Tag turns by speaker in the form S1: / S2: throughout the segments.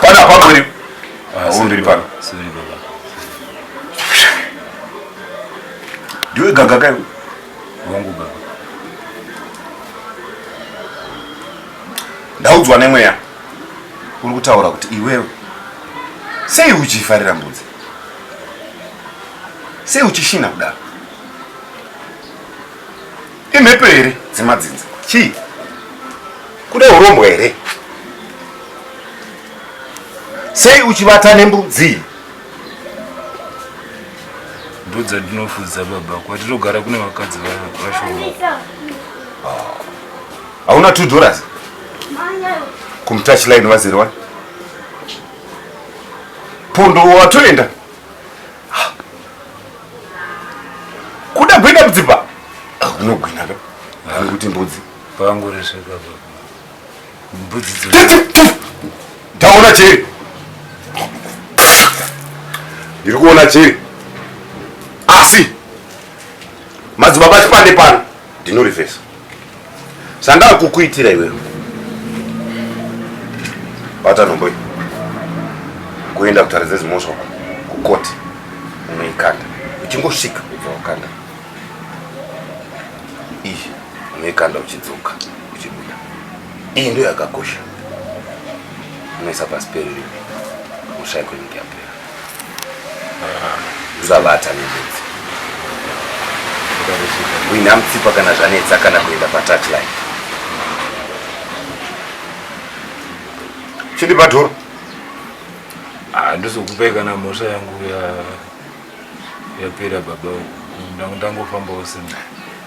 S1: Pana pano uri. Ah, uri mberi pano. Sorry baba. Ndiwe gaga kai? Wangu
S2: baba.
S1: Ndaudzwa nemweya. Uri kutaura kuti iwewe sei uchifarira mbudzi? Sei uchishina kudaro? Imhepo here dzemadzinza? Chii? Kuda urombwa here? Sei uchivata nembudzi?
S2: Mbudzi ndinofudza baba, kwatinogara kune vakadzi vashoma.
S1: Hauna ah. two dollars? Kumtouch line vazere wani? Pondo watoenda? kuda kuenda kudzimba unogwina ka vanhu kuti mbudzi panguresveka
S2: mbudzi
S1: ndaona cheri ndiri kuona cheri asi madzibaba chipande pano ndinorivhesa zvandakukuitira iwewe bata nhombo iyi kuenda kutaridza zimhosva kukoti unoikanda uchingosvika ubva wakanda iyi unoikanda uchidzoka uchibuda iyi ndo yakakosha unoisa pasi periri mushaiko inenge yapera zvavata nembudzi wina mutsipa kana zvanetsa kana kuenda patouchline chindi padhoro handisi
S2: ah, kupai kana mhosva yangu yapera baba ndangofambawo sena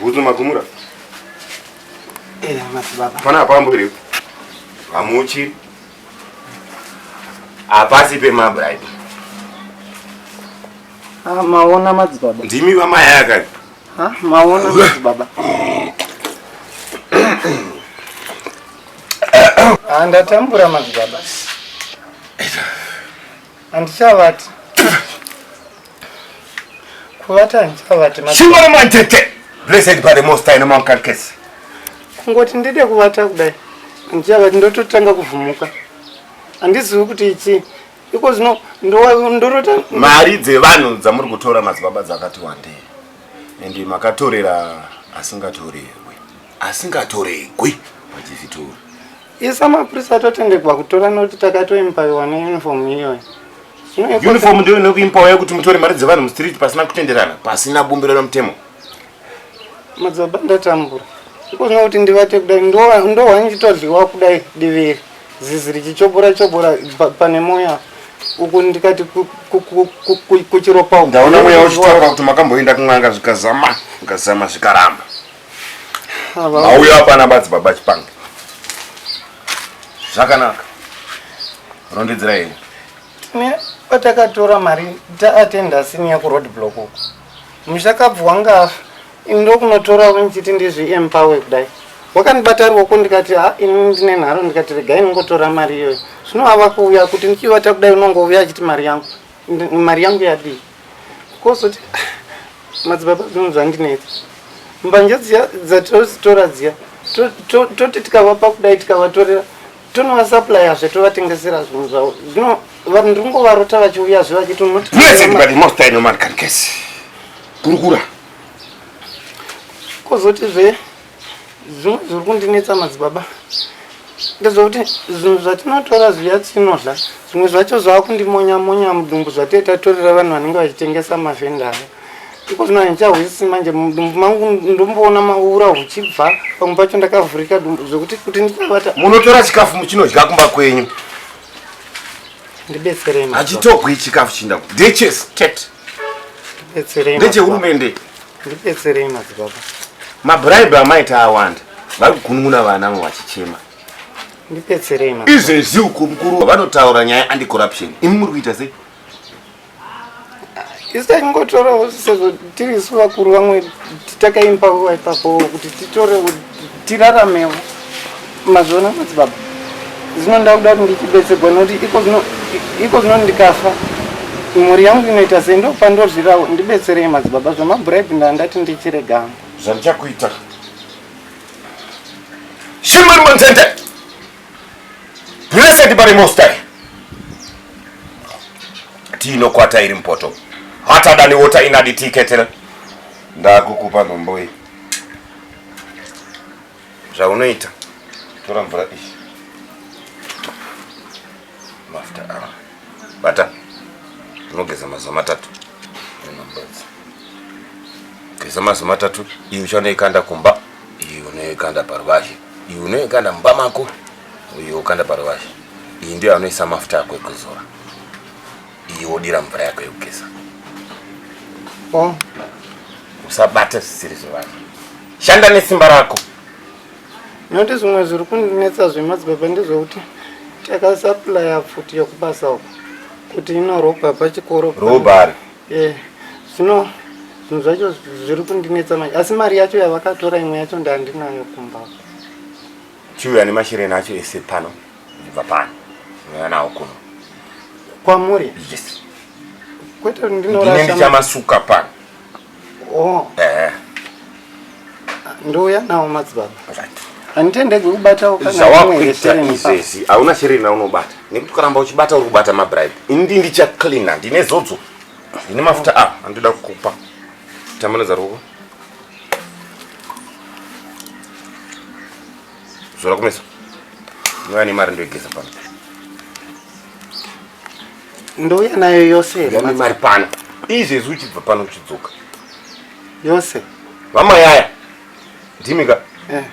S1: Bhutsu makumura. Eh,
S3: madzibaba. Pana apambo here?
S1: Hamuchi. Hapasi pemabride. Ah,
S3: maona madzibaba. Ndimi vamaya kani?
S1: Ha, maona
S3: madzibaba. Ah, ndatambura madzibaba. Handichavati. Kuvata handichavati. Shingo remantete.
S1: Blessed by the most high nomankarkesi. Kungoti
S3: ndide kuvata kudai. Handichavati ndototanga kuvhumuka. Handizivi kuti ichii. Iko zvino ndorota. Mari
S1: dzevanhu dzamuri kutora madzibaba dzakati wandei. And makatorera asingatorerwi. Asingatoregwi. Pachivhitori. Isa
S3: mapurisa atotendekwa kutora nekuti takatoimpawiwa neuniform iyoyo. Uniform
S1: ndiyo inokuimpawa yekuti mutore mari dzevanhu mustreet pasina kutenderana, pasina bumbiro remutemo.
S3: Madzibaba ndatambura. Ikozvino kuti ndivate kudai ndohwa ndichitodliwa kudai diviri. Zizi richichobora chobora pane moyo uku ndikati kuchiropa. Ndaona mweya
S1: uchitapa kuti makamboenda kun'anga zvikazama, zvikazama zvikaramba. mauyo apana badzi baba chipanga zvakanaka rondedzera yeye ne
S3: patakatora mari taatenda sini yakuroad block uko mushakabvu wanga afa ini ndokunotora unchiti ndizviempowe kudai wakandibata ruoko ndikati ha ini ndine nharo ndikati regai ndingotora mari iyoyo zvino ava kuuya kuti ndichivata kudai unongouya achiti mari yangu mari yangu yadii kozoti madzibaba zvinhu zvandinetsa mbanje dziya dzatozitora dziya toti tikavapa kudai tikavatorera tonovasuplya zve tovatengesera zvinhu zvavo zvino vanhu ndiri kungovarota vachiuya zve vachitonotikurukura kozoti zve Zvimwe zviri kundinetsa madzibaba ndezvokuti zvinhu zvatinotora zviya tinodla zvimwe zvacho zvaakundimonyamonya monya mudumbu zvatee tatorera vanhu vanenge vachitengesa mavhenda aya iko zvino handichahwisisi manje mudumbu mangu ndomboona maura huchibva pamwe pacho ndakavhurika dumbu zvekuti kuti ndichavata munotora chikafu
S1: muchinodya kumba kwenyu
S3: ndibetserei hachitogwi chikafu chinda
S1: ndechese tete
S3: ndechehurumende
S1: ndibetserei
S3: madzibaba
S1: mabraibe amaita awanda vari
S3: kugunun'una
S1: vana vo vachichema
S3: ndibetserei izvezvi uko mukuru
S1: vanotaura nyaya andicorruption imi muri kuita sei isi
S3: taingotorawo sezvo tiri isu vakuru vamwe takaimba ipapo kuti titore tiraramewo mazviona madzibaba zvino ndakuda kuti ndichibetsegwa nokuti iko zvino ndikafa mhuri yangu inoita sei ndopandozvirawo ndibetserei madzibaba zvamabhuraibhi ndandati ndichiregama zvandichakuita
S1: shimari manzende blessed bari mostai tiinokwata iri mpoto hatadaniwota inadi tiketera ndakukupa nomboi zvaunoita tora mvura iyi mafuta awa bata unogeza mazuva matatu geza mazuva matatu iyi uchanoikanda kumba iyi unoikanda paruvazhe iyi unoikanda mumba mako uyo ukanda paruvazhe iyi ndiyo anoisa mafuta ako ekuzora Iyi wodira mvura yako yekugeza. Oh. Usabata zvisiri zvevanhu. Shanda nesimba rako.
S3: Noti zvimwe zviri kundinetsa zvemadzibaba ndezvekuti takasaplaya pfuti yekubasa uko kuti inorobha pachikoro. Robhari.
S1: Eh.
S3: Zvino zvinhu zvacho zviri kundinetsa manje asi mari yacho yavakatora imwe yacho ndandinayo kumba.
S1: Chiuya nemashireni acho ese pano. ndibva pano ndinouya nawo kuno kwamuri
S3: yes
S1: kwete
S3: ndine ndinorasha ndichamasuka
S1: pano oh eh
S3: ndouya nawo madzibaba right handitendegwi kubatawo kana imwe zvawakuita yetereni pa-
S1: izvezvi hauna shereni yaunobata nekuti ukaramba uchibata uri kubata mabribe indi ndichacleana ndine zodzo ndine mafuta a andoda kukupa tambanudza ruoko Zora kumeso. Mwana ni mari ndoigeza pano.
S3: Ndouya nayo yose here? Mwana mari pano.
S1: Izvezvi uchibva pano uchidzoka.
S3: Yose. Mama yaya.
S1: Ndimi ka? Eh.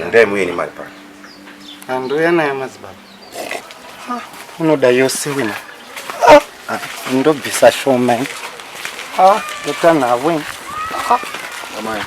S1: Ndai muye ni mari pano. Andouya
S3: nayo madzibaba. Ah, unoda yose wena. Ah, ah ndobvisa shoma. Eh. Ah, ndotanavo. Ah. Mama yaya.